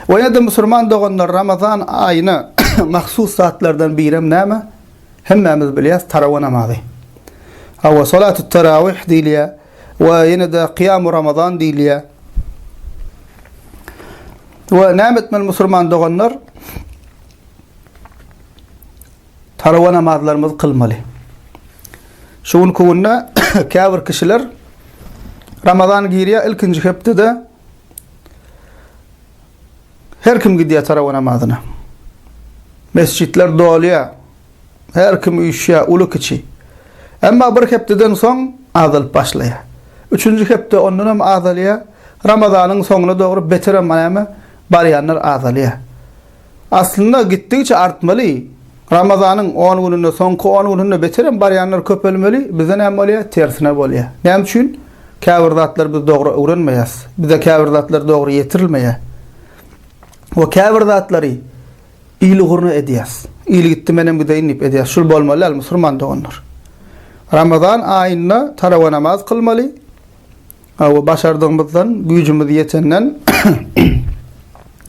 Ve ya da musulman doganlar Ramazan ayına mahsus zatlardan birem näme? Hemmemiz bilýäs tarawa namazy. Hawa salatut tarawih diýilýär we ýene de kıyam ramazan diýilýär. Ve näme etmeli musulman doganlar? Tarawa namazlarymyzy kylmaly. Şu günki günde käbir kişiler Ramazan girýär ilkinji hepdede her kim gidýär tarawa namazyna. Mesjitler dolýar. Her kim üýşýär, uly kiçi. Emma bir hepdeden soň azalyp başlaýar. Üçünji hepde ondan hem azalýar. Ramazanyň soňuna dogry beter hem näme barýanlar azalýar. Aslynda gitdigiçe artmaly. Ramazanyň on gününde, soňky on gününde beterem barýanlar köpelmeli, bizde näme bolýar? Tersine bolýar. Näme üçin? Käbir zatlary biz dogry öwrenmeýäs. Bize käbir zatlar dogry ýetirilmeýär. We käbir zatlary il ugruna edýäs. Il gitdi menem gideýin diýip edýäs. Şul bolmaly däl musurman doganlar. Ramazan aýynda tarawa namaz kylmaly. Hawa, başardygymyzdan, güýjümiz ýetenden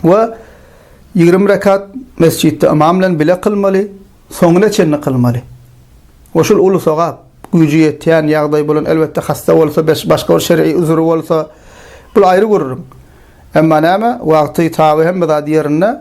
we ýigrimi rekat mesjitde ymam bilen bile kylmaly, soňuna çenli kylmaly. We şul uly sogap. Güýji ýetýän, ýagdaýy bolan, elbetde, hassa bolsa, başga bir şer'i üzri bolsa, bul aýry gürrüň. Emma näme, wagty, taby, hemme zat ýerinde.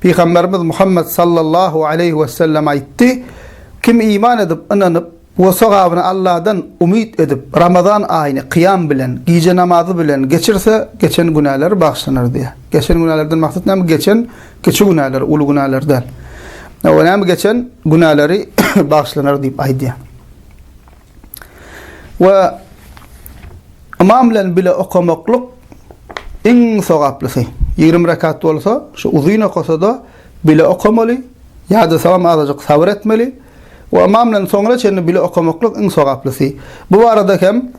Pygamberimiz Muhammet sallallahu aleýhi wesellem aýtdy, Kim iman edip, ynanyp we sogabyny Allahdan umyt edip, Ramazan aýyny kyýam bilen, gije namazy bilen geçirse, geçen günäleri bagyşlanar diýýär. Geçen günälerden maksat näme? Geçen kiçi günäler, uly günäler däl. Näme geçen günäleri bagyşlanar diýip aýdýar. we ymam bilen bile okamaklyk iň sogaplysy. Ýigrimi rekat bolsa, şu uzyn okasa-da, bile okamaly, ýa-da salam azajyk sabyr etmeli we ymam bilen soňra çenli bile okamaklyk iň sogaplysy. Bu barada hem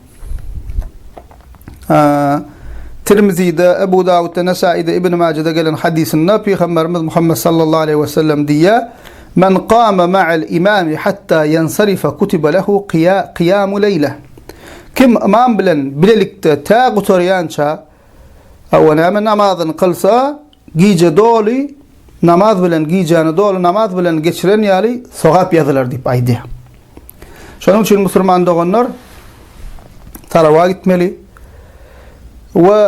Tirmizide, Ebu Dawudda, Nesaide, Ibn Majede gelen hadysynda Pygamberimiz Muhammed sallallahu aleýhi we sellem diýýär, Men kama ma'al imami hatta yansarifa kutiba lehu kiyamu leýle. Kim ymam bilen bilelikde tä gutarýança, hawa, näme, namazyny kylsa, gije doly namaz bilen, gijäni doly namaz bilen geçiren ýaly sogap ýazylar diýip aýdýar. Şonuň üçin musulman doganlar talawa gitmeli we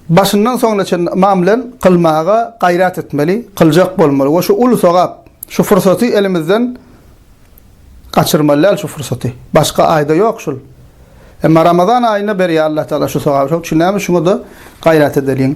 Başyndan soňuna çenli ymam bilen kylmaga gaýrat etmeli, kyljak bolmaly we şu uly sogap, şu pursaty elimizden gaçyrmaly däl şu pursaty. Başga aýda ýok şul. Emma Ramazan aýynda berýär Allah Taala şu sogaby. Şoň üçin näme şuňa-da gaýrat edeliň.